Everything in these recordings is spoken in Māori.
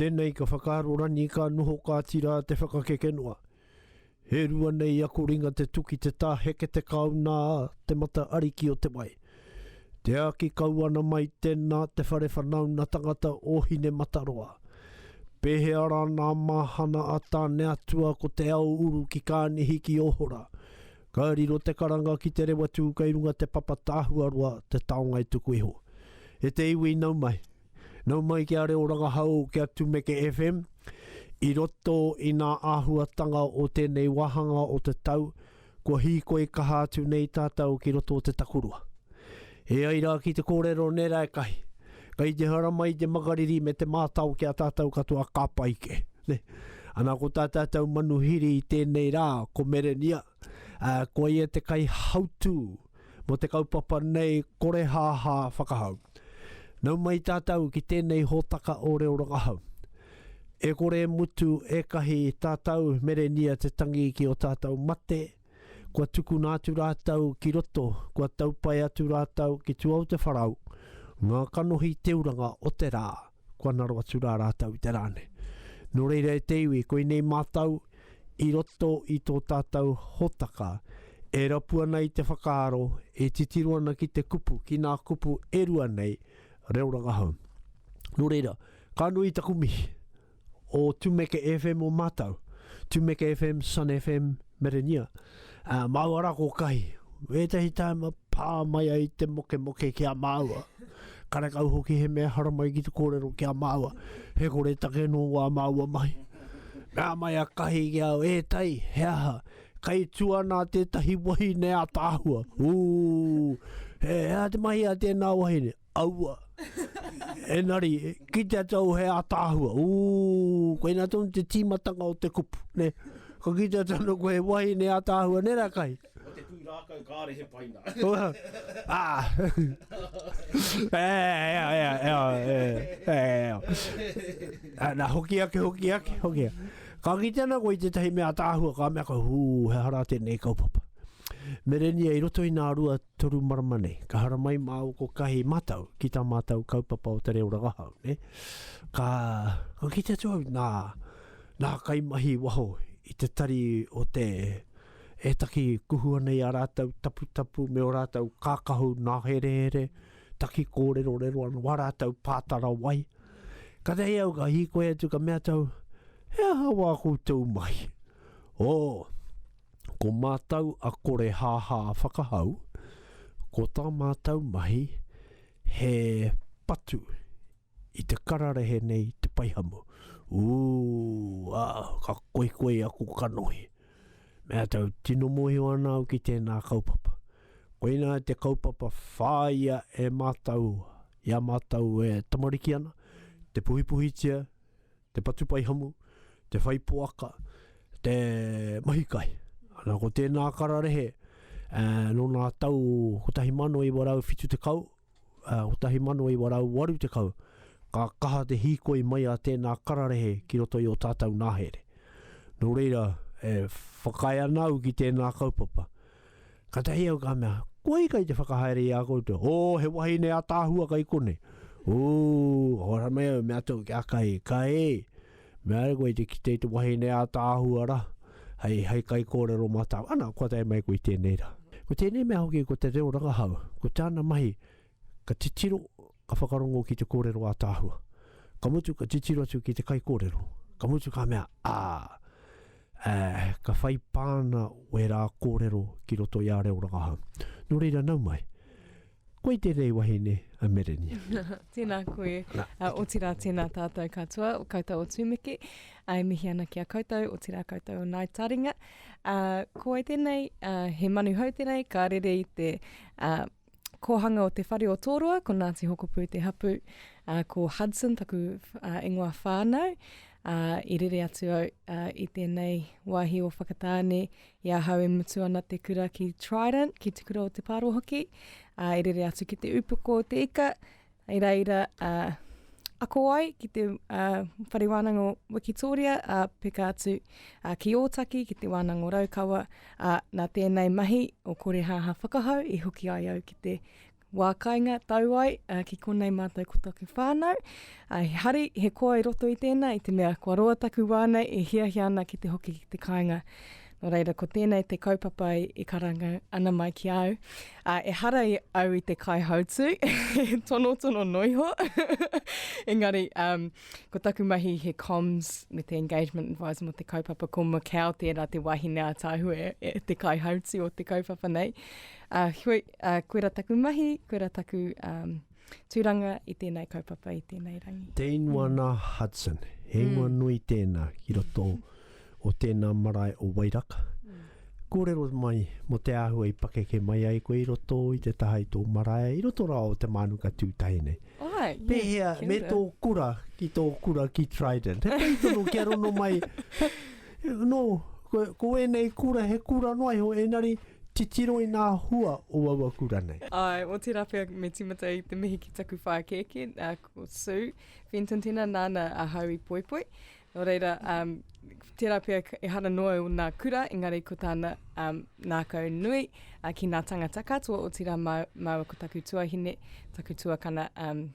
Tēnei ka whakaaro rangi ka noho kāti rā te whakakeke noa. He rua nei ako ringa te tuki te tā heke te kāu nā te mata ariki o te wai. Te āki kau ana mai tēnā te whare whanaunga tangata o Hinemataroa. Pēhea rā nā māhana a Tāneatua ko te ao uru ki Kānihi ki Ohora. Ka riro te karanga ki te rewa tū kei runga te papa Tāhuaroa te taonga e tuku iho. E te iwi nau mai. Nau mai ki a Reo Rangahau ki a Tumeke FM, i roto i nā āhuatanga o tēnei wāhanga o te tau, kua hīkoi kaha atu nei tātou ki roto o te takurua. E ai rā ki te kōrero nē Raekahi, kei te hara mai te makariri me te mātao ki a tātou katoa ka pai kē. Ne? Ana ko tā tātou manuhiri i tēnei rā, ko Merenia, uh, ko ia te kaihautū, mō te kaupapa nei korehāhā whakahau. Nau mai tātou ki tēnei hōtaka o reo rangahau. E kore e mutu ēkahi tātou merenia te tangi ki o tātou mate, kua tukuna atu rātou ki roto, kua taupae atu rātou ki Tuaotewarau, ngā kanohi teuranga o te rā. Kua ngaro atu rā rātou i te rā nei. Nō reira e te iwi, koinei mātou i roto i tō tātou hōtaka, e rapu ana i te whakaaro, e titiro ana ki te kupu, ki ngā kupu e rua nei, reo rangahau. Nō reira, ka nui taku mihi. O Tumeke FM o mātou, Tumeke FM, Sun FM, Merenia, ā, māua rā ko Kahi. Ētahi tāima pā mai ai te mokemoke ki a māua. Karekau hoki he mea haramai ki te kōrero ki a māua, he kore take nō wā māua mahi. Mea mai a Kahi ki au, E Tai, he aha, kei tū ana tētahi wahine ataahua? Ū! He aha te mahi a tēnā wahine? Aua. Enari, kitea tau he ataahua. Ooh, koe na tonu te timatanga o te kupu, ne? Ko kitea tonu koe he wahine ataahua, ne ra kai? Ko te pui rakau kare he paina. ah. eh, eh, eh, eh, eh, eh. Ah, na hoki ake, hoki ake, hoki ake. Ka kitea na koe te tahi mea ataahua, ka mea ka huu, he hara tenei kaupapa. Merenia i roto i nā rua Toru marama nei, ka haramai māua ko Kahi Matau ki tā mātou kaupapa o te reo rangahau, nē. Ka, ka kite atu au nā, nā kaimahi waho i te tari o te, e taki kuhu ana i a rātou taputapu me o rātou kākahu nāherehere, taki kōrerorero ana, wā rātou pātara wai. Ka tahi au ka hīkoi atu ka mea tau, he aha wā koutou mahi? Oh, Ko mātou a Korehāhā Whakahau, ko tā mātou mahi he patu i te kararehe nei i te paihamu. Ū, ā, ka koikoi aku kanohi. Me atau, tino mōhio ana au ki tēnā kaupapa. Koinā te kaupapa whāia e mātou, i a mātou e tamariki ana, te puhipuhitia, te patupaihamu, te whai poaka, te mahi kai. Ana, ko tēnā kararehe, e, nō nā tau 1970, e, 1980, ka kaha te hīkoi mai a tēnā kararehe ki roto i o tātau nāhere. Nō reira, e whakaae ana au ki tēnā kaupapa, Ka tahi au ka mea, Kohi kai te whakahaere i a koutou? O, he wahine ataahua kai konei. U, hora mai au, mea tou ki a Kai, Kai, mea au koe te kite i te wahine ataahua ra, hei, hei kaikōrero matau, ana, kua tae mai koe i tēnei ra. Ko tēnei mea hoki ko te reo rangahau, ko tāna mahi, ka titiro, ka whakarongo ki te kōrero ātaahua. Ka mutu ka titiro atu ki te kaikōrero, ka mutu ka mea, ā, ā, ka whai pāna wērā kōrero ki roto i a reo rangahau. Nō reira nau mai. Koi tēnei wahine a Merenia. tēnā koe, Na, uh, otirā tēnā tātou katoa, o koutou o Tūmeke, uh, e mihi ana ki a koutou, otirā koutou o Nai Taringa. Uh, ko ai tēnei, uh, he manu hou tēnei, ka rere i te uh, kōhanga o te whare o Tōroa, ko Ngāti Hokopū te hapu, uh, ko Hudson taku uh, ingoa whānau, uh, i rere atu au uh, i tēnei wāhi o Whakatāne, i ahau e mutu ana te kura ki Trident, ki te kura o te Paro hoki, uh, i rere atu ki te upoko o te ika, Hei reira, ā, ako ai ki te ā, Whare Wānanga o Wikitōria, ā, peka atu ā, ki Ōtaki, ki Te Wānanga o Raukawa, ā, nā tēnei mahi o Korehāhā Whakahau i hoki ai au ki te wā kainga tau ai ā, ki konei mātou ko taku whānau. Ā, he hari, he koa i roto i tēnā, i te mea kua roa taku wā nei e hiahia ana ki te hoki ki te kāinga. Nō reira, ko tēnei te kaupapa i karanga ana mai ki au. Uh, e hara i au i te kai hautu, tono tono noiho. Engari, um, ko taku mahi he comms me te engagement advisor mo te kaupapa ko Macau tērā te wahine a Tāhue, e, te kai hautu o te kaupapa nei. Uh, hui, uh, koera taku mahi, koera taku um, Tūranga i tēnei kaupapa, i tēnei rangi. Te ingoa nā Hudson, he ingoa nui tēnā ki roto o tēnā marae o Wairaka. Kōrero mai mō te āhua i pakeke mai ai koe i roto i te taha i tō marae, i roto rā o te mānuka tūtahi nei. Ai, Pēhea me tō kura ki tō kura ki Trident? He pai tonu kia rono mai, No, ko, ko ēnei kura, he kura noa iho, ēnari, titiro i ngā hua o aua kura nei. Āe, otirā pea me tīmata i te mihi ki taku whākēkē, ā, ko Sue Fenton tēnā, nāna ahau i poipoi. Nō reira, um, tērā pea ehara noa i ōna kura, engari ko tāna um, nākau nui uh, ki ngā tangata katoa, otirā mā, māua ko taku tuahine, taku tuakana, um,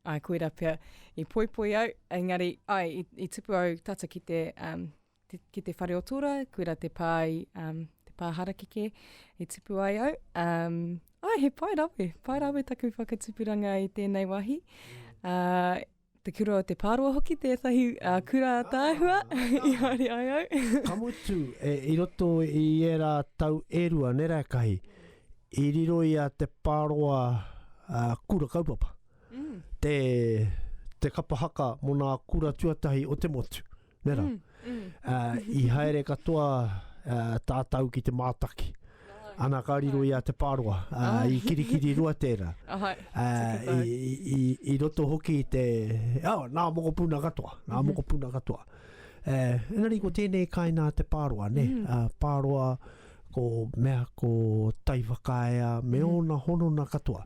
Ai, koira pea. I poipoi au, engari, ai, i, i tupu au tata ki te, um, te, ki te whare o tōra, koira te pāi, um, te pā harakeke, i tupu ai au. Um, ai, he pai rawe, pai rawe taku whakatupuranga i tēnei wahi. Uh, te kura o te pāroa hoki, tētahi uh, kura tāhua, i haere ai au. Ka mutu, e, i roto i era tau e rua, nera e kahi, I riro i a Te Pāroa a Kura Kaupapa te te kapa haka mo nā kura tuatahi o te motu. Ne ra? I haere katoa tātau ki te mātaki. Ana ka riro i a Te Pāroa, i Kirikiri-rua tēra. I roto hoki i te, oh, nā mokopuna katoa, nā mokopuna katoa. Engari ko tēnei kainā Te Pāroa, ne? Pāroa, Ko mea ko Taiwhakaea me ōna honona katoa,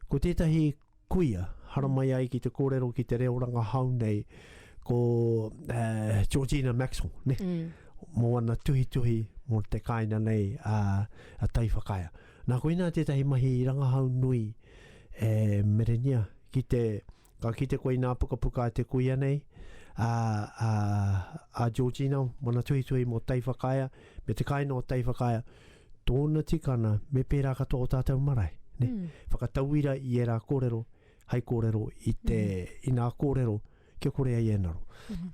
ko tētahi kuia haramai ai ki te kōrero ki te reo rangahau nei, ko Georgina Maxwell, ne? mō ana tuhituhi mō te kāina nei a, a Taiwhakaea. Nā, koinā tētahi mahi rangahau nui e merengia ki te Ka kite koe inā pukapuka a te kuia nei, a, a, a Georgina Manatuhituhi mō Taiwhakaea, me te kāinga o Taiwhakaea, tōna tikana me pērā katoa o tātou marae. Ne? Mm. Whakatauira i ērā kōrero, hai kōrero i te mm. inā kōrero, kia kore ai e naro. Mm.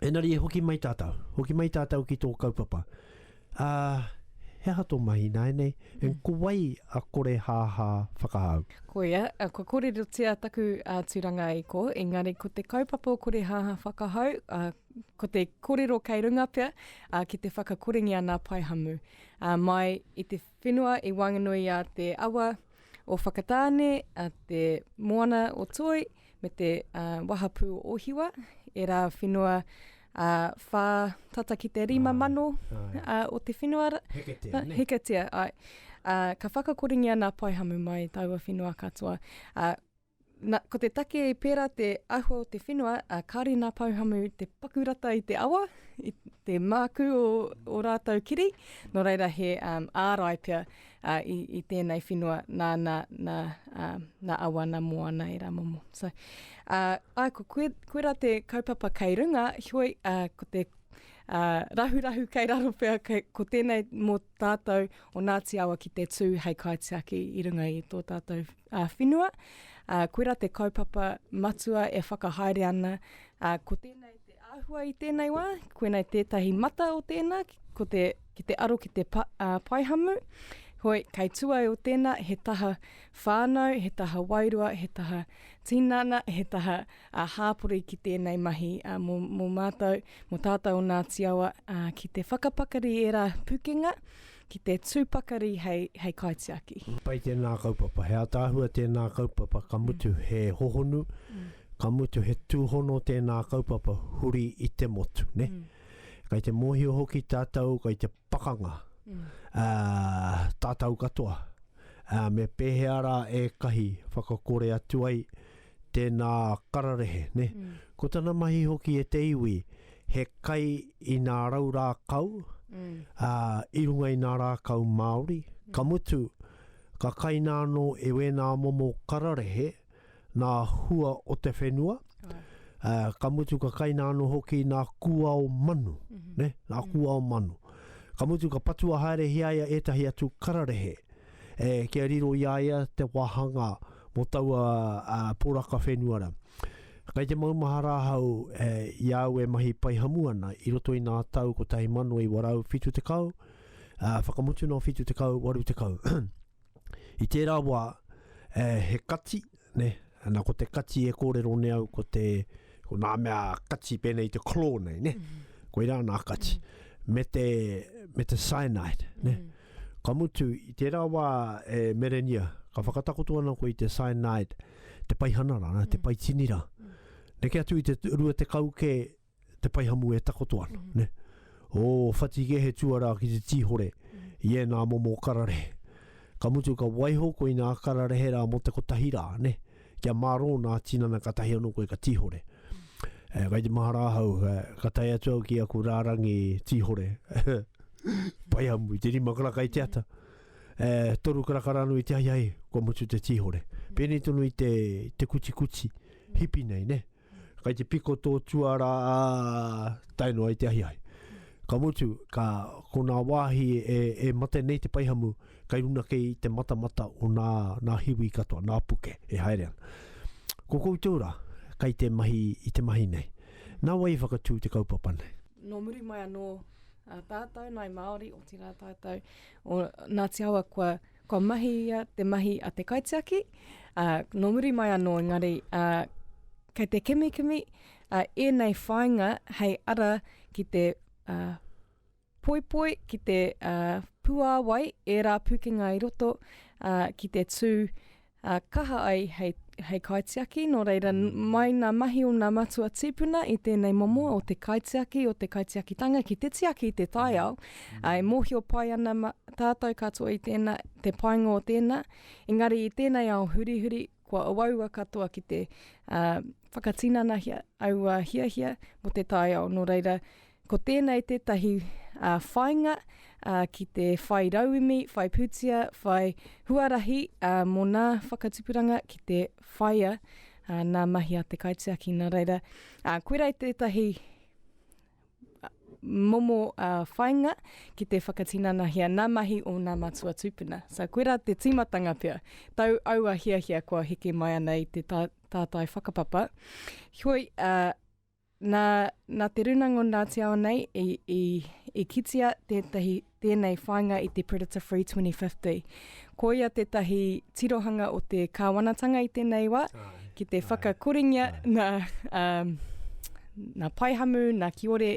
Enari e hoki mai tātou, hoki mai tātou ki tō kaupapa. Ā, he aha tō mahi ināianei? And ko wai a Korehāhā whakahau? Koia, kua kōrerotia taku tūranga i kō, engari ko te kaupapa o Korehāhā whakahau, ko te kōrero kei runga pea ki te whakakorengia nā Paehamu mai i te. Whenua i Wanganui a te awa o Whakatāne, a te moana o Toi, me te uh, wahapū o Ohiwa, e rā whenua a uh, whā tata ki te rima mano uh, o te whenua. Heketea, uh, ne? Heketea, ai. Uh, ka whakakoringia nā Paihamu mai taua whenua katoa. Uh, Na, ko te take pērā te ahua o te whenua, a kāre nā Pouhamu te paku rata i te awa, i te māku o, o rātou kiri, nō reira he um, ārai pea uh, i, i tēnei whenua nā, nā, nā, uh, nā awa, nā moana e rā momo. So, uh, ai, ko koe, koe rā te kaupapa kei runga, hioi, uh, ko te uh, rahurahu kei raro pea, kei, ko tēnei mō tātou o Ngāti Awa ki te tū hei kaitiaki i runga i tō tātou Ā whenua, ā, koirā te kaupapa matua e whakahaere ana, ā, ko tēnei te āhua i tēnei wā, koinei tētahi mata o tēnā, ko te, ki te aro ki te pa, ā, paihamu, hoi, kei tua ai o tēnā, he taha whānau, he taha wairua, he taha tinana, he taha, ā, hāpori ki tēnei mahi, ā, mō, mō mātou, mō tātou o Ngāti Awa, ā, ki te whakapakari ērā pukenga, ki te tū pakari hei, hei kaitiaki. Pai tēnā kaupapa, he ataahua tēnā kaupapa, ka mutu mm. he hohonu, mm. ka mutu he tūhono tēnā kaupapa huri i te motu, ne? Mm. Kai te mōhio hoki tātou, kai te pakanga, mm. uh, tātou katoa, uh, me pēhea rā e kahi whakakore atu ai, tēnā kararehe, ne? Mm. Ko tana mahi hoki e te iwi, he kai i nā rau rākau, mm. ā, i runga i nā rākau Māori, mm. ka mutu, ka kaina anō e wēnā momo kararehe nā hua o te whenua, oh. ā, ka mutu ka kaina anō hoki nā kuao manu, mm -hmm. ne? Nā mm. kuao manu. Ka mutu ka patua haere hiaia ētahi atu kararehe, e kia riro i a ia te wāhanga mō taua poraka whenua rā. Kei te maumahara ahau i a au e mahi pai hamu ana i roto i nā tau 1970, whakamutunā o 70, 80. I tērā wā he kati, ne, ana ko te kati e kōrero ne au ko te, ko nā mea kati pēnei te claw nei, ne, mm. koirā nā kati, mm. me te, me te cyanide, ne, mm. ka mutu i tērā wā e Merenia, ka whakatakoto ana ko i te cyanide, te paihana rā, mm. te paitinira, mm. ne ke atu i te rua te kau ke, te paihamu e takoto ana, mm. ne? O Whatike he tuara ki te tīhore mm. i ēnā momo kararehe. Ka mutu ka waiho ko ina kararehe rā mo te kotahi rā, ne? Kia mārō nā tinana ka tahi anō koe ka tīhore. Eh, kai te mahara ahau, eh, ka tai atu au ki aku rārangi tīhore. Pai amu, te rima karaka i te ata. Eh, toru karaka rānu i te hai hai, kua mutu te tīhore. Pēnei tonu i te, te kuti kuti, hipi nei, ne? Kai te piko tō tuara ā, tae noa i te ahiahi. Ka mutu, ka ko nā wāhi e, e mate nei te paihamu, kai runa kei te matamata o nā, nā hiwi katoa, nā puke e haere ana. Ko koutou rā, kai te mahi i te mahi nei. Nā wai i whakatū te kaupapa nei? Nō muri mai anō a tātou, Ngāi Māori, otirā tātou o Ngāti Awa kua Kua mahi ia te mahi a te kaitiaki, ā, nō muri mai anō engari, ā, kei te kimikimi, ā, ēnei whāinga hei ara ki te, ā, poipoi, ki te, ā, puāwai ērā pūkenga i roto, ā, ki te tū, ā, kaha ai hei, hei kaitiaki, nō reira, mai ngā mahi o ngā matua tīpuna i tēnei momo o te kaitiaki, o te kaitiakitanga ki te tiaki i te taiao, ā, e mōhio pai ana ma, tātou katoa i tēnā, te painga o tēnā, engari i tēnei ao hurihuri, kua auaua katoa ki te, ā, whakatinanahia aua hiahia mō te taiao, nō reira, Ko tēnei tētahi whāinga ki te whai rauemi, whai pūtia, whai huarahi mō nā whakatupuranga ki te whaia nā mahi a te kaitiaki. Nā reira, koirā tētahi momo whāinga ki te whakatinanahia nā mahi o nā matua tūpuna. So, koirā te tīmatanga pea. Tau aua hiahia kua heke mai ana i te tātai whakapapa. Heoi, Nā, nā Te Runanga o Ngāti Ao nei i, i, i kitia tētahi tēnei whāinga i te Predator Free 2050. Ko ia tētahi tirohanga o te kāwanatanga i tēnei wā, ki te whakakoringia nā, um, nā Paihamu, nā Kiore,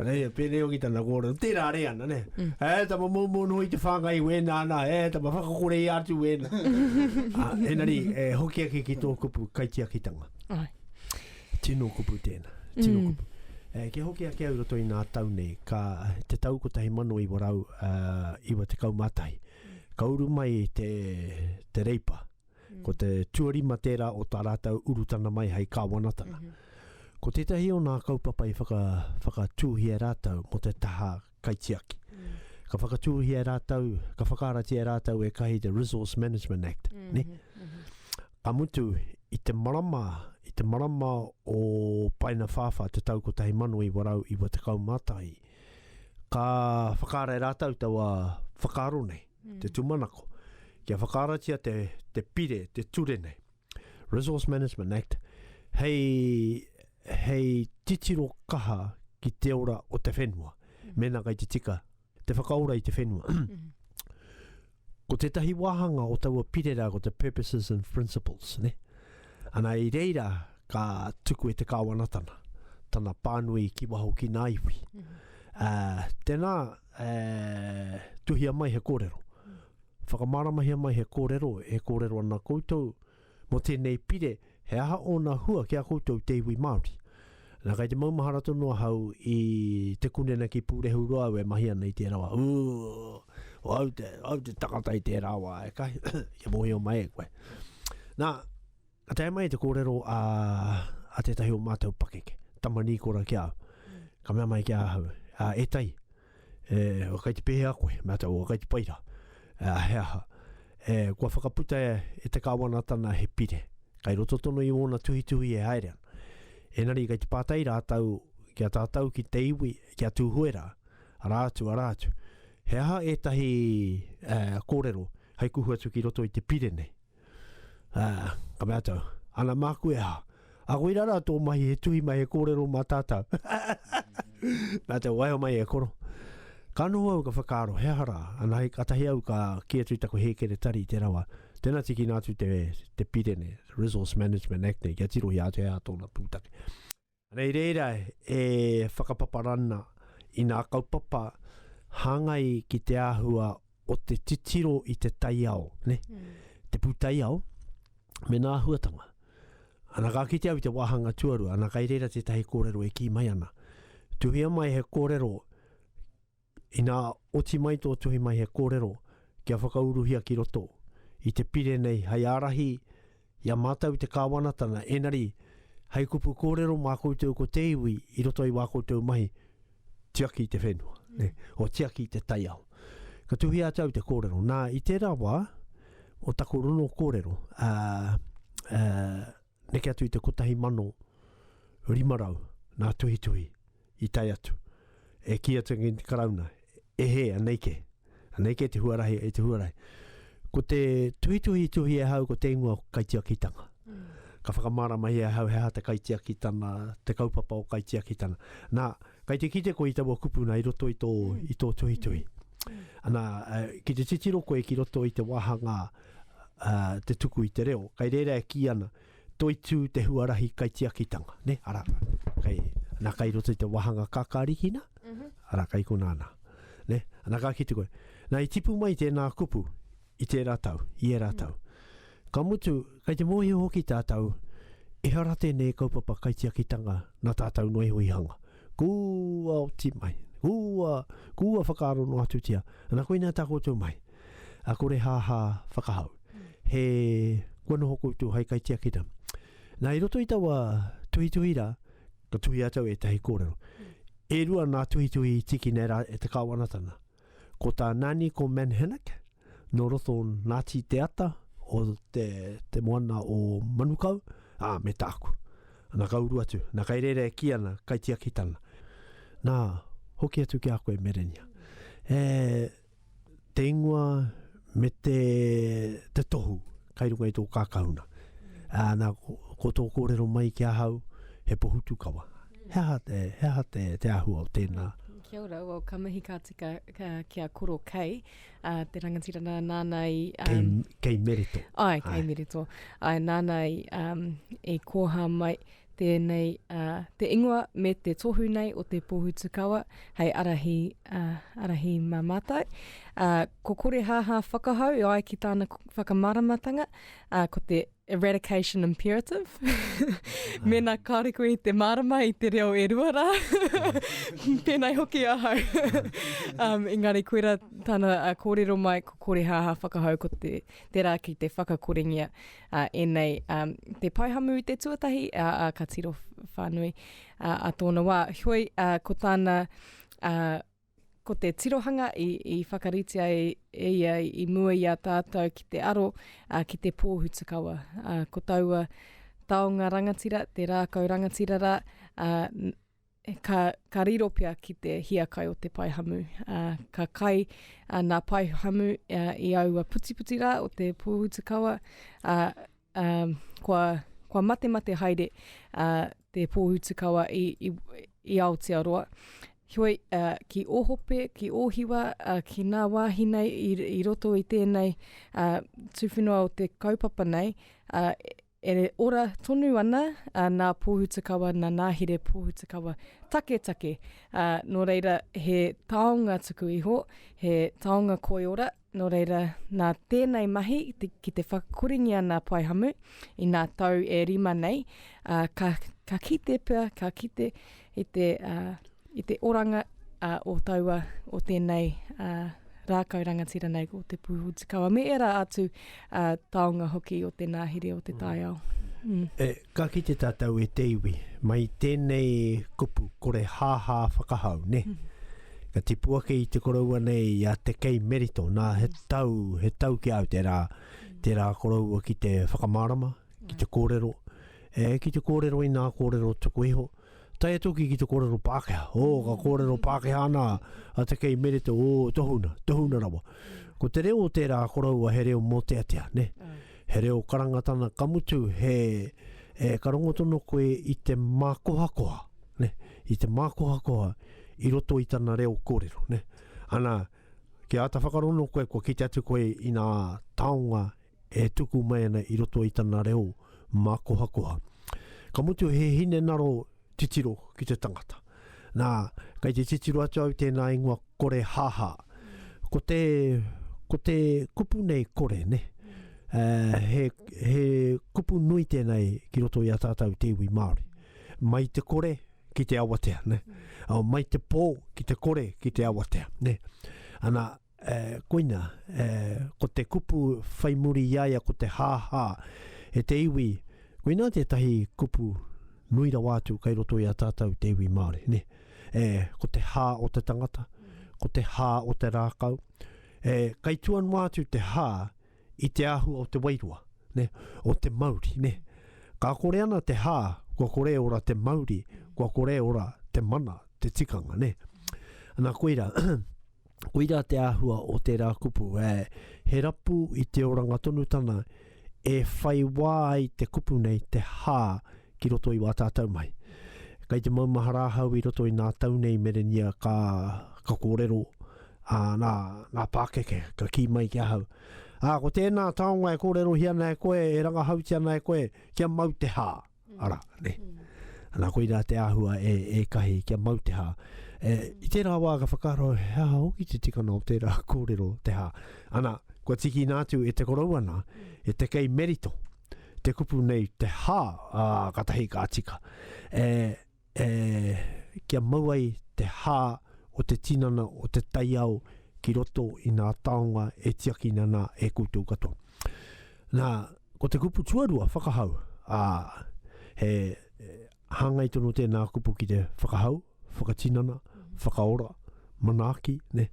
Ana ia, pēnei hoki tana kōrero, tērā re ana, ne? Mm. E, eh, tama mōmō noho i te whāngai wēnā ana, e, eh, tama whakakore i ātu wēnā. ah, enari, e, eh, hoki ake ki tō kupu kaitiakitanga. Ai. Tino kupu tēnā, tino mm. kupu. E, kia hoki ake au roto i nā tau nei, ka te tau ko tahi mano i warau uh, iwa te kaumatahi. Ka uru mai te, te reipa, Ko te tuarima tērā o tā rātou urutana mai hei kāwanatanga. Mm -hmm. Ko tētahi o nā kaupapa i whaka, whakatūhia rātou mō te taha kaitiaki. Mm. Ka whakatūhia rātou, ka whakaratia rātou e kahi te Resource Management Act. Mm -hmm. ne? Mm -hmm. Ka mutu, i te marama, i te marama o Paina Whāwha te tau 1991, ka whakare rātou taua whakaaro nei. te tūmanako, kia whakaaratia te, te pire, te ture nei, Resource Management Act, hei, hei titiro kaha ki te ora o te whenua, mm. mena kai te tika, te whakaora i te whenua. Mm. ko tētahi wāhanga o taua pire rā, ko te purposes and principles, ne? Ana i reira, ka tuku e te kāwanatana, tana pānui ki waho ki nā iwi. Mm. Uh, tēnā, e, tuhia mai he kōrero. Whakamāramahia mai he kōrero, e kōrero ana koutou, mō tēnei pire, he aha ōna hua ki a koutou te iwi Māori. Nā, kai te maumahara tonu ahau i te kunena ki Pūrehu Roa au e mahi ana i tērā wā. Ū, au te, au te takata i tērā wā, e kai, kia mōhio mai e koe. Nā, Ka tae mai te kōrero a, a tētahi o mātou pakeke, tama nīkora ki a au. Ka mea mai ki a ahau, a, e tai, e, o kai te pēhea koe, mea tau, o kai te paira, a, he aha. E, kua whakaputa e, e te kāwanatana he pire, kai roto tonu i wōna tuhituhi e haere ana. Enari kai te pātai rātou ki a tātou ki te iwi, ki a Tūhuera, ara atu, ara atu. He aha ētahi e, kōrero hai kuhu atu ki roto i te pire nei? Ah, ka mea tau, ana māku e ha, a koe rara tō mahi he tuhi mai he kōrero mā tātau. Nā te waiho mai e koro. Ka noho au ka whakaaro, he aha rā, ana hei katahi au ka ki atu i taku hēkere tari i te rawa, tēnā tikina atu te, te pirene, Resource Management Act nei, kia tirohia atu he aha tōna pūtake. Nei reira e whakapapa rana i nā kaupapa hāngai ki te āhua o te titiro i te taiao, ne? te pūtaiao, me nā āhuatanga. Ana ka kite au i te wāhanga tuarua, ana kai reira tētahi kōrero e kī mai ana, tuhia mai he kōrero Ina oti mai tō tuhi mai he kōrero kia whakauruhia ki roto i te pire nei hei ārahi i a mātou te Kāwanatanga, engari hei kupu kōrero mā koutou ko te iwi i roto i wā koutou mahi, tiaki te whenua, o tiaki te taiao. Ka tuhia atu au te kōrero, nā, i tērā wā, o taku ronokōrero, ā, ā, neke atu i te 1500 nā tuhituhi i tae atu, e kī atu ki te Karauna, e hē, anei kē, anei kē te huarahi e te huarahi. Ko te tuhituhi i tuhi e hau ko te ingoa o kaitiakitanga. Mm. Ka whakamāramahia e hau he aha te kaitiakitana, te kaupapa o kaitiakitana. Nā, kai te kite ko i taua kupuna i roto i tō, mm. i tō tuhituhi. Mm. Ana, eh, ki te titiro koe ki roto i te wāhanga te tuku i te reo. Kai rēra e kī ana, toitū te huarahi kaitiakitanga, ne? Ara, kai, ana kai roto i te wahanga kakarikina, mm -hmm. ara kai kona ana. Ne? Ana ka kite koe, na i tipu mai tēnā kupu i tērā tau, i ērā tau. Mm -hmm. Ka mutu, kai te mōhio hoki tātou, ehara tēnei kaupapa kaitiakitanga na tātou noe hui hanga. Kua oti mai, kua, kua whakaaro no atutia, ana koina tā koutou mai. a Korehāhā whakahau. He, kua noho koutou hai kaitiakina. Nā, i roto i taua tuhituhi rā, ka tuhi atau e tahi kōrero. E rua nā tuhituhi tiki nei rā e te kāwanatanga. Ko tā Nani, ko Manhanac, no roto nāti te ata o te, te moana o Manukau, ā, me tāku. Nā ka uru atu, nā kai rēra e ki ana, kai tiakitanga. Nā, hoki atu ki a koe Merenia. E, te ingoa me te, te tohu kai runga i tō kākahuna. Ā, nā, ko, ko tō kōrero mai ki ahau, he pohutu kawa. Mm. He aha te, he aha te, te ahua o tēnā? Kia ora, well, ka mihi ka tika ka, ki a Koro Kei, uh, te rangatira nā, nāna i... Um, kei, kei Mereto. Ai, kei ai. Mereto. Ai, nāna i, um, i kōhā mai, Tēnei te ingoa me te tohu nei o te Pōhutukawa hei arahi, arahi mā mātou. Ko Korehāhā whakahau e ai ki tāna whakamāramatanga, ko te eradication imperative. Mm. Mēnā kāre koe i te mārama i te reo e rua rā, tēnei hoki ahau. um, engari, koe rā tāna uh, kōrero mai, ko kore hāhā whakahau, ko te, te rā ki te whakakorengia a, enei, a, te paihamu i te tuatahi, a, a, ka tiro whanui a, a tōna wā. Hoi, a, ko tāna, a, ko te tirohanga i, i whakaritia e, e ia i mua i a tātou ki te aro a, ki te pōhutukawa. A, ko taua taonga rangatira, te rākau rangatira rā, a, ka, ka riro pea ki te hiakai o te pae hamu. Ā, ka kai ā, nā pae hamu ā, i aua putiputi rā o te pōhutukawa, ā, ā, kua, kua matemate haere ā, te pōhutukawa i, i, i Aotearoa. Heoi, ā, ki Ōhope, ki Ōhiwa, ā, ki nā wāhi nei i, i roto i tēnei ā, tuwhenua o te kaupapa nei, ā, E ora tonu ana nā Pōhutukawa, nā Nāhere Pōhutukawa taketake. Nō reira, he taonga tuku iho, he taonga koiora, nō reira, nā tēnei mahi ki te whakakorengia nā Paehamu i nā tau e rima nei, ka kite pea, ka kite i te, uh, i te oranga uh, o taua, o tēnei uh, rākau rangatira nei ko te Pūhutikawa, me era atu uh, taonga hoki o te nāhiri o te mm. taiao. Mm. E, ka ki te tātou e te iwi, mai tēnei kupu kore hāhā whakahau, ne? Mm. Ka tipu ake i te koroua nei i a te kei merito, nā he mm. tau, he tau ki au te rā, mm. te rā koroua ki te whakamārama, ki te kōrero, E, ki te kōrero i nā kōrero tuku iho, tae atu ki ki te kōrero Pākehā. Ō, mm. ka kōrero Pākehā ana a te kei merete, ō, tohuna, tohuna rawa. Ko te reo o tērā koroua he reo mōteatea, ne? Mm. He reo karangatana ka mutu, he, e, ka rongotono koe i te mākohakoha, ne? I te mākohakoha i roto i tana reo kōrero, ne? Ana, kia ata whakarono koe, kua kite atu koe i nā taonga e tuku mai ana i roto i tana reo mākohakoha. Ka mutu he hinengaro titiro ki te tangata. Nā, kei te titiro atu au tēnā ingoa kore haha. Ko te, ko te kupu nei kore, ne? Uh, he, he kupu nui tēnei ki roto i a tātou te iwi Māori. Mai te kore ki te awatea, ne? Oh, mai te pō ki te kore ki te awatea, ne? Ana, Ē, koina, ē, ko te kupu whai muri i a ia ko te hāhā. E te iwi, koina tētahi kupu nui rawa atu kei roto i a tātou te iwi Māori, nē. Ē, ko te hā o te tangata, ko te hā o te rākau. Ē, kei tua noa atu te hā i te āhua o te wairua, nē, o te mauri, nē. Ka kore ana te hā, kua kore e ora te mauri, kua kore e ora te mana, te tikanga, nē. Ana, koira. Koira te āhua o tērā kupu, ē, he rapu i te oranga tonu tana e whai wā ai te kupu nei te hā ki roto i wā tātau mai. Kei te maumahara ahau i roto i nā tau nei merenīa ka, ka kōrero, ā, nā, nā pākeke ka kī mai ki ahau, Ā, ko tēnā taonga e kōrerohia ana e koe, e rangahautia ana e koe, kia mau te hā. ara, ne. Mm. Ana koina te ahua e, e kahi kia mau te hā. E, I tērā wā ka whakaro he hā hoki te tikana o tērā kōrero te hā. Ana, kua tiki nā atu e te korouana, ana, e te kei merito, te kupu nei te hā, a, katahi ka tika. E, e kia mau ai te hā o te tinana o te taiao ki roto i ngā taonga e tiakina nā e koutou katoa. Nā, ko te kupu tuarua, whakahau, ā, he hāngai tono tēnā kupu ki te whakahau, whakatinana, whakaora, manaaki, ne,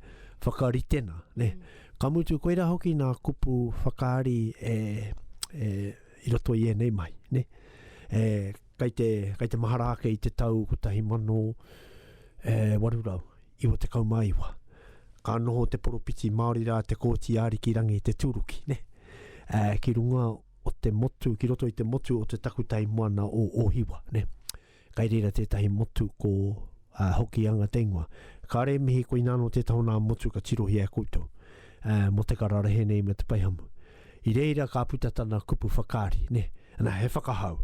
whakaritena, ne. Ka mutu, koirā hoki nā kupu whakaari e, e, i roto i ēnei mai, ne. E, Kei te, kei te mahara ake i te tau 1899, ka noho te poropiti Māori rā te Kōti i Ariki Rangi te tūruki, nē, ā, ki runga o te motu, ki roto i te motu o te takutai moana o Ōhiwa, nē. Kei reira tētahi motu ko, ā, Hokianga te ingoa. Kāre e mihi koina anō tētahi o nā motu ka tirohia e koutou, ā, mō te kararehe nei me te paihamu. I reira ka puta tana kupu whakaari, ne, na, he whakahau.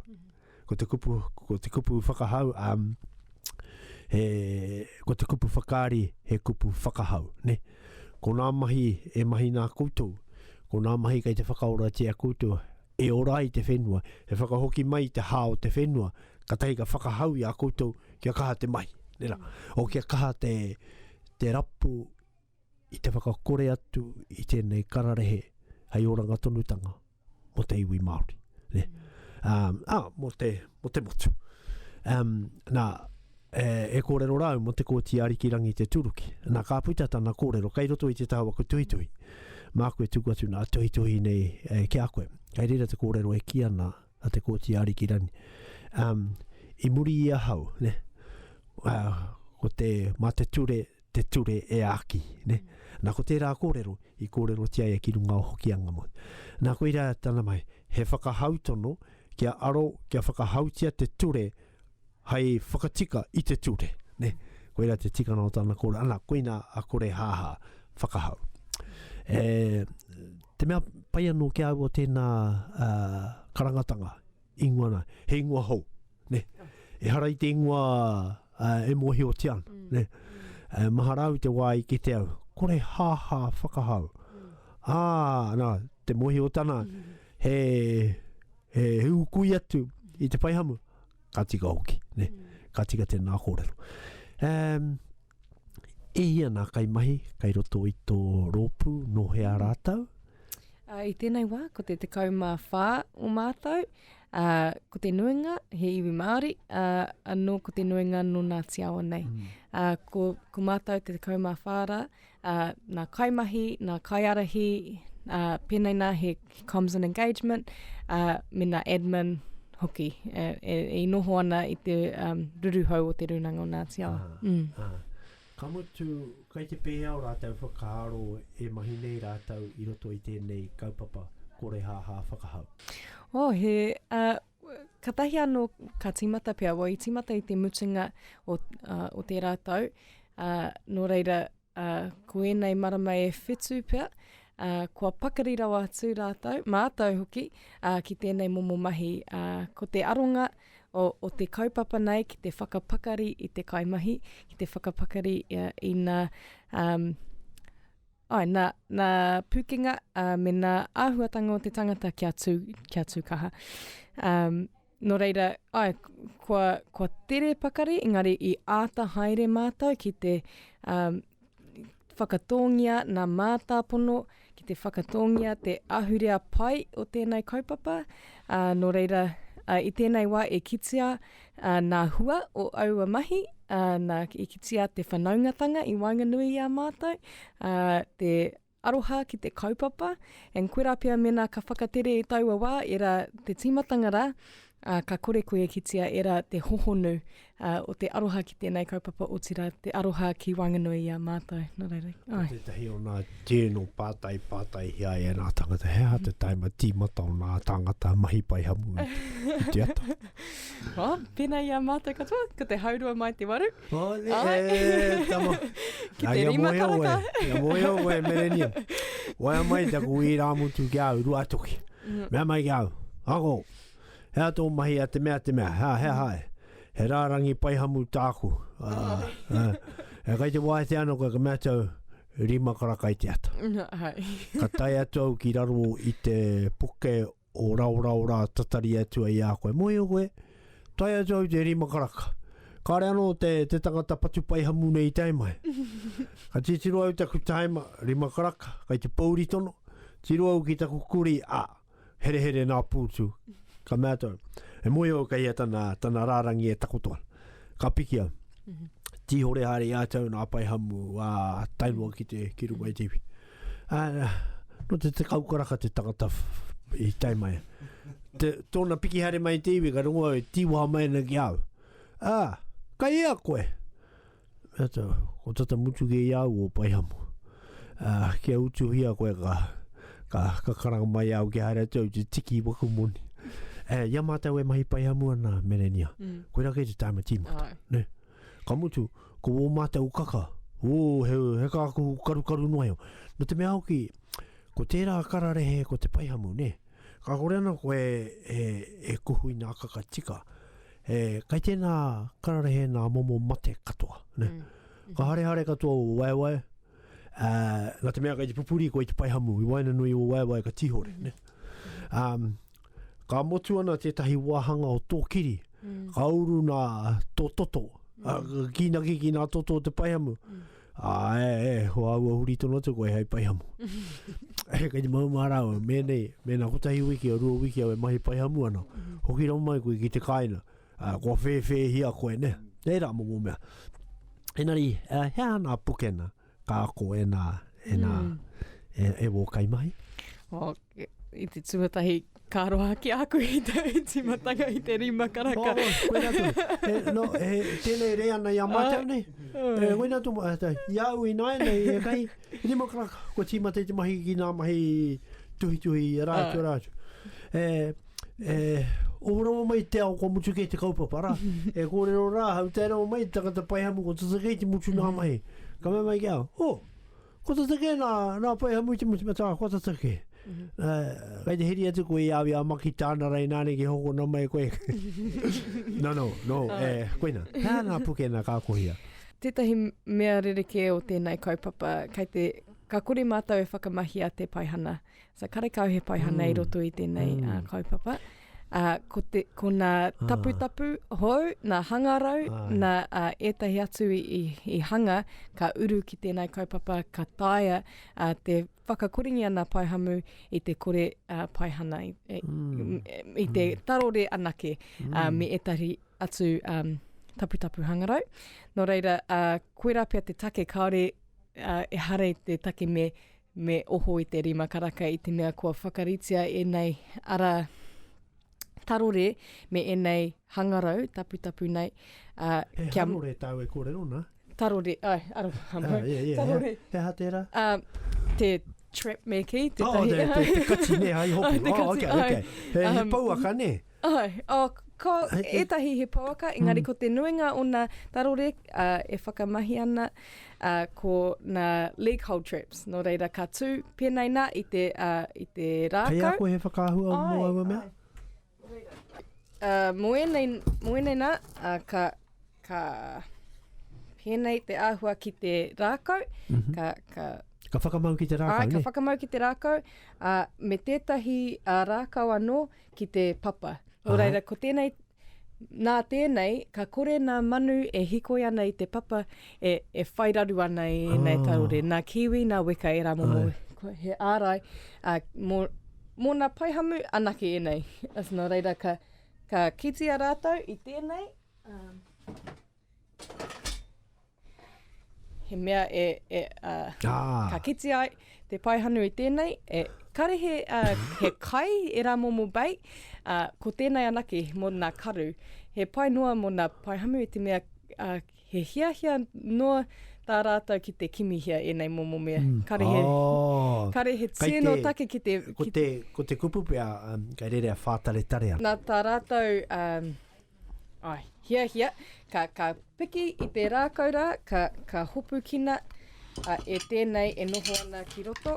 Ko te kupu, ko te kupu whakahau, um, he, ko te kupu whakaari, he kupu whakahau, ne. Ko nā mahi e mahi nā koutou, ko nā mahi kei te whakaoratia koutou, e ora ai te whenua, e whakahoki mai i te hā o te whenua, katahi ka whakahau i a koutou kia kaha te mahi, nera, o kia kaha te, te rapu, i te whakakore atu i tēnei kararehe hei oranga tonutanga mo te iwi Māori. Ne? Um, ah, mo, te, mo te motu. Um, nā, e, e kōrero rāu mo te kōti ariki rangi te turuki. Nā, ka puta tana kōrero, kei roto i te taha waku tuhituhi. Māku e tuku atu nā tuhituhi nei e, ki a koe. Kei rira te kōrero e ki ana a te kōti ariki rangi. Um, i muri i ahau, ne? Uh, ko te, mā te ture, te ture e āki, ne? Nā, ko tērā kōrero, i kōrerotia ia ki runga o Hokianga mō. Nā, koirā tana mai, he whakahau tono kia aro, kia whakahautia te ture hai whakatika i te ture, ne? Koirā te tikana o tana kōrero, ana, koina a Korehāhā, whakahau. E, te mea pai anō ki a au o tēnā uh, karangatanga, ingoa nā, he ingoa hou, ne. Ehara i te ingoa e mōhiotia ana, mm. ne. E, mahara au te wā i kite au, kore haha whakahau. Mm. Ā, nā, te mōhiotana, mm. he, he, he ukui atu i te paihamu, ka tika hoki, ne. Mm. Ka tika tēnā kōrero. Um, I hia nā kaimahi kei roto i tō rōpū, nō hea mm. rātou? Uh, I tēnei wā, ko te tekau mā whā o mātou, uh, ko te nuinga he iwi Māori, uh, anō ko te nuinga nō nā tiawa nei. Mm. Uh, ko, ko mātou te tekau mā whā rā, uh, nā kaimahi, nā kaiarahi, uh, pēnei nā he comms and engagement, uh, mena admin hoki, e, e, e noho ana i te um, ruruhau o te runanga o Ngāti Awa. Ah, mm. ah. Ka mutu, kai te pēhea o rātou whakaaro e mahi nei rātou i roto i tēnei kaupapa korehāhā whakahau? Oh, he, uh, katahi anō ka tīmata pia, wai tīmata i te mutunga o, uh, o tērā tau, uh, nō reira, ā, ko ēnei marama e whitu pea, ā, kua pakari rawa atu rātou, mātou hoki, ā, ki tēnei momo mahi, ā, ko te aronga o, o te kaupapa nei ki te whakapakari i te kaimahi, ki te whakapakari uh, i nā, um, ai, nā, nā pūkenga uh, me nā āhuatanga o te tangata kia tū, kia tū kaha. Um, Nō reira, āe, kua, kua tere pakari, engari i āta haere mātou ki te um, whakatōngia nā mātāpono, ki te whakatōngia te ahurea pai o tēnei kaupapa. Uh, nō reira, uh, i tēnei wā e kitia uh, nā hua o aua mahi, uh, nā, e kitia te whanaungatanga i waenganui i a mātou, uh, te Aroha ki te kaupapa, and koirā pea mēnā ka whakatere i taua wā, ērā te tīmatanga rā, ā, ka kore koe e kitea ērā te hohonu ā, o te aroha ki tēnei kaupapa, otirā, te aroha ki waenganui i a mātou. Nā reira. Ko Āe. tētahi o nā tēnō pātai, pātai hea e nā tāngata, he aha te taima tīmata o nā tāngata mahi paihamu i te ata? Oh, pēnā i a mātou katoa, ko te haurua mai te waru. Oh, ne, oh. E, tama. Ki te rima karaka. Ia moe au, moe merenia. Wai a mai taku i rā mutu ki au, rua toki. Mm. Mea mai ki au, ako, hea tō mahi a te mea te mea, hea, hea, mm. hae. He rārangi pai hamu tāku. Ah, oh. ah. E kai te wae te ano, kai ka mea tau, rima karakai te ata. Hai. ka tai atu au ki raro i te puke o raorao rā tatari atu ai i a koe. Mōhio koe, tae atu au i te rima karaka. Kāre anō te, te tangata patupaihamu nei i tae mai. Ka titiro au taku taima, rima karaka, kai te pōuri tono, tiro au ki taku kuri, a, herehere nā pūtu. Ka mea tau, e mōhio au kei a tana, tana rārangi e takoto ana. Ka piki au. Tīhore haere i a tau nā paihamu, a, tainua ki te, ki runga i te iwi. Ā, nō te tekau karaka te tangata i tae mai. Te, tōna piki hare mai te iwi, ka rongo au, e tīwaha mai ana ki au. Ā, kai ea koe? Ā, tā, ko tata mutu kē i au o Paihamu. Ā, kia utuhia koe ka, ka, ka karanga mai au ki haere atu au te tiki i waku moni. Ā, ia mātou e mahi Paihamu ana, Merenia. Mm. Koe rake te tāma tīmata. Ai. Ne? Ka mutu, ko wō mātou kaka, ō, he, he kākahu karukaru noa iho. Nō te mea hoki, ko tērā kararehe ko te paihamu, nē. Ka kore ana koe e, e kuhu i nā kaka tika, e, kai tēnā kararehe nā momo mate katoa, nē. Mm. Mm-hmm. Ka harehare katoa o waewae, ā, nā te mea kei te pupuri koe i te paihamu, i waenganui o waewae ka tīhore, nē. Mm-hmm. Um, ka motu ana tētahi wāhanga o tō kiri, mm. ka uru nā tō toto, mm. a, kīnaki ki nā toto o te paihamu. Mm. A, e, e, ho au a huri tono atu koe hei paihamu. e, kei te maumā rāua, mēnei, mēnā kotahi wiki o rua wiki au e mahi paihamu ana, mm. hoki rau mai koe ki te kāina, a, kua whēwhēhia koe, ne? Nei rā mō mō mea. Enari, uh, hea nā pukena? Ka ako e nā, e nā, e, e wō kaimahi. Oh, i te tuatahi ka roha ki aku i te timatanga i te rima karaka. Oh, wena tu. He, no, he, tēnei rea nei a mātou nei. He, wena tu, i au i nāi nei, e kai, rima karaka, ko tīmate te mahi ki nā mahi tuhituhi, rātu, rātu. He, E ohorama mai te ao kua mutu kei te kaupapa ra. e kōrero rā ahau, tairanga mai te tangata paihamu ko tata kei te mutu nā mahi. Ka mea mai ki ahau, oh, ko tata kē nā, nā paihamu i te mutu, me tā, ko tata kē. Uh, kei te heri atu koe i awi a maki tāna rei nāne ki hokona mai koe. no, no, no, e, koina, hea nā puke nā kā kohia. Tētahi mea rerekē o tēnei kaupapa, kei te, ka kore mātou e whakamahia te paihana. So karekau he paihana mm. i roto i tēnei mm. uh, kaupapa. Uh, ko, te, ko nā ah. taputapu ah. hou, nā hangarau, ah. nā uh, ētahi atu i, i, i hanga, ka uru ki tēnei kaupapa, ka taia uh, te whakakoringi ana paihamu i te kore uh, paihana, i, e, mm. i te mm. tarore anake mm. uh, me ētahi atu um, taputapu hangarau. Nō reira, uh, koe rā pia te take, kāore uh, e hare te take me Me oho i te rima karaka i te mea kua whakaritea ēnei ara tarore me ēnei hangarau taputapu nei. Uh, he kia... harore tāu e kōrero nā? Tarore, ai, ara, ah, yeah, yeah, tarore. He, he aha tērā? Uh, te trap me kei. Te oh, te, te, te kati ne, ai hopi. oh, te kati, oh, okay, ai. okay. He, um, he pouaka ne. Ae, oh, ko etahi he pouaka, engari mm. ko te nuinga o na tarore uh, e whakamahi ana uh, ko na leg hold traps. No reira ka tu penei na i te, uh, i te rākau. Kei ako he whakahua o mua ua mea? Uh, mo enei, mo enei na, uh, ka, ka penei te ahua ki te rākau, mm -hmm. ka, ka Ka whakamau ki te rākau, Ai, ka whakamau ki te rākau. Uh, me tētahi uh, rākau anō, ki te papa. Nō Aha. reira, ko tēnei, nā tēnei, ka kore nā manu e hikoi ana i te papa, e, e whai raru ana i ēnei Ah. taurore. Nā kiwi, nā weka e rā momo. Ai. Ko, he ārai, ā, mō, mō nā paihamu anake ēnei. Nō reira, ka, ka kitea rātou i tēnei, ā, he mea e, e uh, ah. ka kiti ai te paihanu i tēnei, e, kare he, uh, he kai e rā momo bei, uh, ko tēnei anake mō nā karu, he pai noa mō nā paihamu i te mea uh, he hiahia noa tā rātou ki te kimihia ēnei momo mea. Mm. Kare, he, oh. kare he tēno te, take ki te... Ko te, ko te kupu pia, um, kai rere a whātaretare ana. Nā tā rātou... Um, Ai, hiahia, ka, ka piki i te rākau rā, ka, ka hopukina a, e tēnei e noho ana ki roto.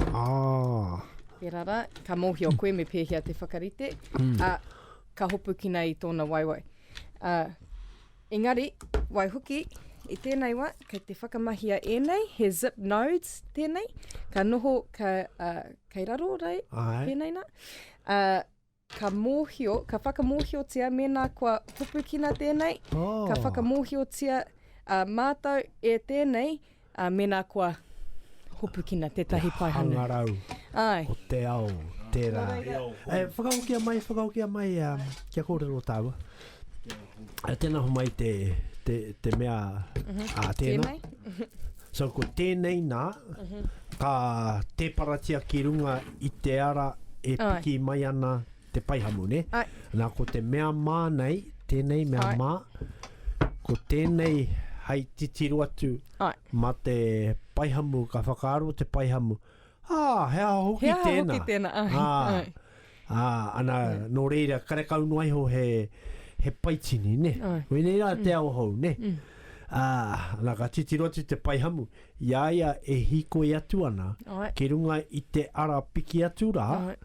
Ah. Tērā rā, ka mōhio koe me pēhea te whakarite, mm. a, ka hopukina i tōna waiwai. A, engari, wai hoki, i tēnei wā, kei te whakamahia ēnei, he zip nodes tēnei, ka noho, ka, uh, kei raro rei, Ai. tēnei nā. Uh, Ka mōhio, ka whakamōhiotia mēnā kua hopukina tēnei, oh. ka whakamōhiotia uh, mātou e tēnei uh, mēnā kua hopukina tētahi paihana. Hangarau, Ai. ko te ao, tērā. E, whakaokia mai, whakaokia mai, um, kia kōrero tāua. E tēnā ho mai te, te, te mea mm -hmm. a tēnā. Tēnei? so ko tēnei nā, mm -hmm. ka tēparatia ki runga i te ara e piki Ai. mai ana te paihamu, ne? Ai. Nā, ko te mea mā nei, tēnei mea Ai. mā, ko tēnei hai titiro atu Ai. ma te paihamu, ka whakaaro te paihamu, Ā, he aha hoki tēnā? He aha hoki tēnā, āe, āe. Ā, ā, ana, nō reira, karekau noa iho he, he paitini, nē. Āe. Koinei rā te ao hou, nē. Ā, ana, ka titiro atu te paihamu, i a ia e hīkoi atu ana Āe. ki runga i te ara piki atu rā, Āe.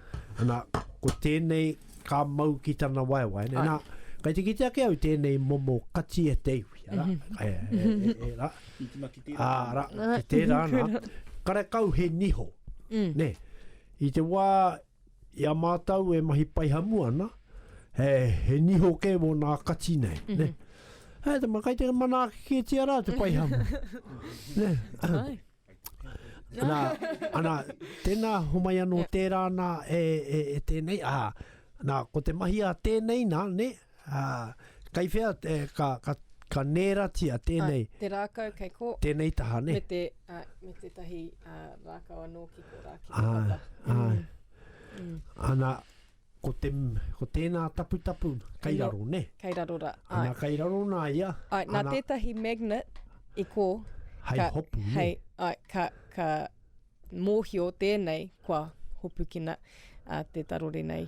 ana, ko tēnei ka mau ki tana waewae, nē. Āe. Nā, kai te kite ake au tēnei momo kati e te iwi, arā, e, e, e, e, e, rā. Tūtuna ki. Ā, ra, ki tērā ana, karekau he niho, mm. ne, i te wā i a mātou e mahi pai hamu ana, he, he niho kē mō nā kati nei, mm -hmm. ne. Mm-hmm. Hei, te makai te mana ake tia rā te pai hamu. ne. Ana, ana, tēnā homai anō yeah. tērā nā e, e, e tēnei, ā, nā, ko te mahi a tēnei nā, ne, mm Ā, kei whea te, ka, ka, ka nēratia tēnei. Ā, te rākau kei ko. Tēnei taha, nē? Me te, ā, me tētahi, ā, rākau anō ki ko rā, ki te papa. Āe, āe. Mm. Ana, ko te, ko tēnā taputapu kei Anō, raro, nē? kei raro rā, āe. Ana, kei raro nā ia. Āe, nā Ana, tētahi magnet i ko, hei ka, hopu, nē? hei, āe, ka, ka mōhio tēnei kua hopukina, ā, te tarore nei.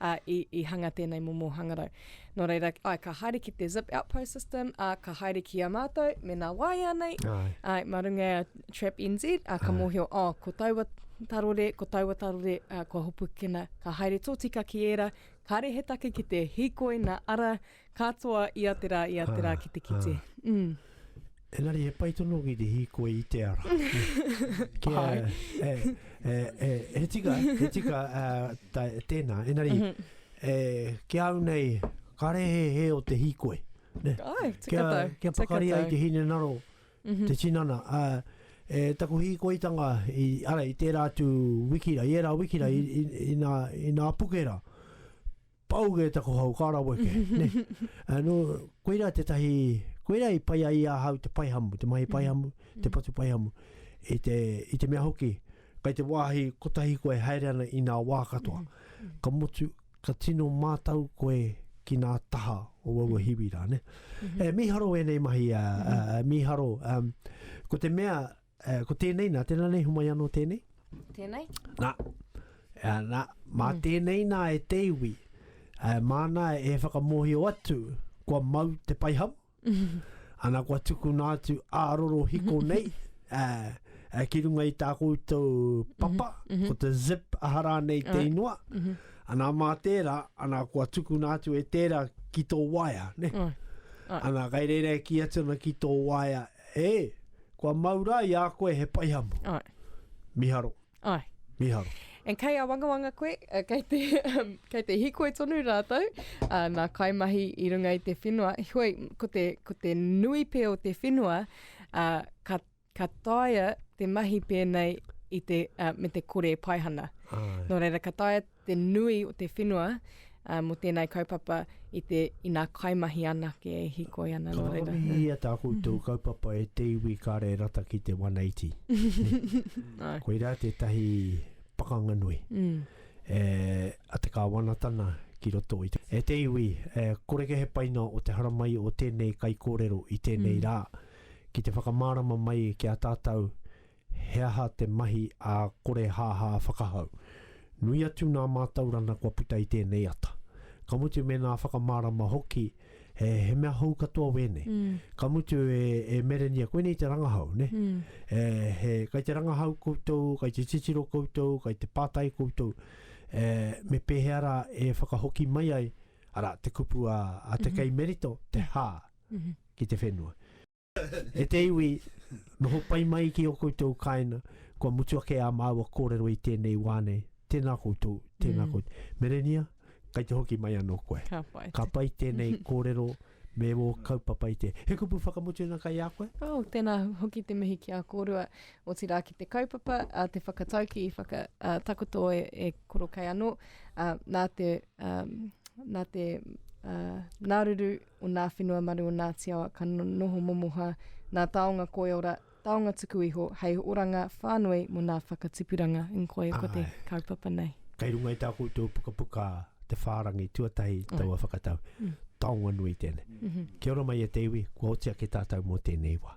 ā, i, i hanga tēnei momo hangarau. Nō reira, ai, ka haere ki te zip outpost system, ā, ka haere ki a mātou, mēnā waea nei, ai, ai mā runga e a Trap NZ, ā, ka ai. mōhio, ā, oh, ko taua tarore, ko taua tarore, ā, kua hopukina, ka haere tōtika ki ērā, kāre he take ki te hīkoi nā ara, Katoa i a te rā, i a te rā ki te kite. Engari he pai tonu ki te hīkoi i te ara. Kia, e, e, e, he tika, he tika ta, tēnā. Engari, e, ki au nei, ka rehe he o te hīkoi. Ne? Ai, tika kia, tau. Kia pakari ai te hine naro, mm -hmm. te tinana. A, e, taku hīkoitanga, i, ara, i tērā atu wikira, i ērā wikira, mm -hmm. i, i, i, nā, i nā pukera. Pau kē taku hau, ka rawe kē, nē. Anō, koirā tētahi, koirā i pai ai i ahau te paihamu, te mahi paihamu, te patu paihamu, i te, i te mea hoki, kai te wāhi kotahi koe haere ana i nā wā katoa, ka motu, ka tino mātau koe ki nā taha o aua hiwi rā, nē. E, mīharo ēnei mahi, a, a, mīharo, um, ko te mea, Uh, ko tēnei, nā tēnā nei, humai anō tēnei. Tēnei? Nā, uh, nā mā mm. tēnei nā e te iwi, uh, māna e whakamohio atu, kua mau te paiham, ana kua tukuna atu a roro hiko nei, uh, uh, ki runga i tā koutou papa, mm -hmm. ko te zip ahara nei te inua, mm -hmm. ana mā tērā, ana kua tukuna atu e tērā ki tō waia, ne? Mm. Ana, kai reira e ki atu ana ki tō waia, E, kua mau rā i a koe he paihamu. Ai. Miharo. Ai. Miharo. And kei awangawanga koe, uh, kei te, um, kei te hikoi tonu rātou, uh, nā kaimahi i runga i te whenua. Hoi, ko te, ko te nui pē o te whenua, uh, ka, ka taia te mahi pēnei i te, uh, me te kore paihana. Ai. Nō reira, ka taia te nui o te whenua uh, mō tēnei kaupapa i te ina kaimahi anake e hikoi ana. Ka whakawihia tā koutou mhm. kaupapa e te iwi kāre rata ki te 180. no. Koi rā tētahi pakanga nui. Mm. E, a te kāwanatana ki roto i te. E te iwi, e, koreke he paina o te haramai o tēnei kaikōrero i tēnei mm. rā ki te whakamārama mai ki a tātou He aha te mahi a Korehāhā Whakahau? Nui atu nā mātaurana kua puta i tēnei ata. Ka mutu mēnā whakamārama hoki, he, he mea hou katoa wēnei. Ka mutu e, e Merenia, koinei te rangahau, nē? E, he, kai te rangahau koutou, kai te titiro koutou, kai te pātai koutou, e, me pēhea rā e whakahoki mai ai, arā, te kupu a, a te kei Merito, te hā ki te whenua. E te iwi, noho pai mai ki o koutou kaena, kua mutu ake a māua kōrero i tēnei wā nei. Tēnā koutou, tēnā koutou. Mm. Merenia, kai te hoki mai anō koe. Ka pai. Ka pai tēnei kōrero me wō kaupapa i te. He kupu whakamutunga kai a koe? Oh, tēnā hoki te mihi ki a kōrua, otirā ki te kaupapa, a te whakatauki, whaka, a, takoto e, e koro kai anō, a, nā te, um, nā te uh, nāruru o nā whenua maru o Ngāti Awa ka noho momoha nā taonga koiora, taonga tuku iho hei oranga whānui mō nā whakatipuranga. Ing koia ko te kaupapa nei. Kei runga i tā koutou pukapuka te whārangi tuatahi taua whakatau. Taonga nui tēnei. Kia ora mai e te iwi, kua oti ake tātou mō tēnei wā.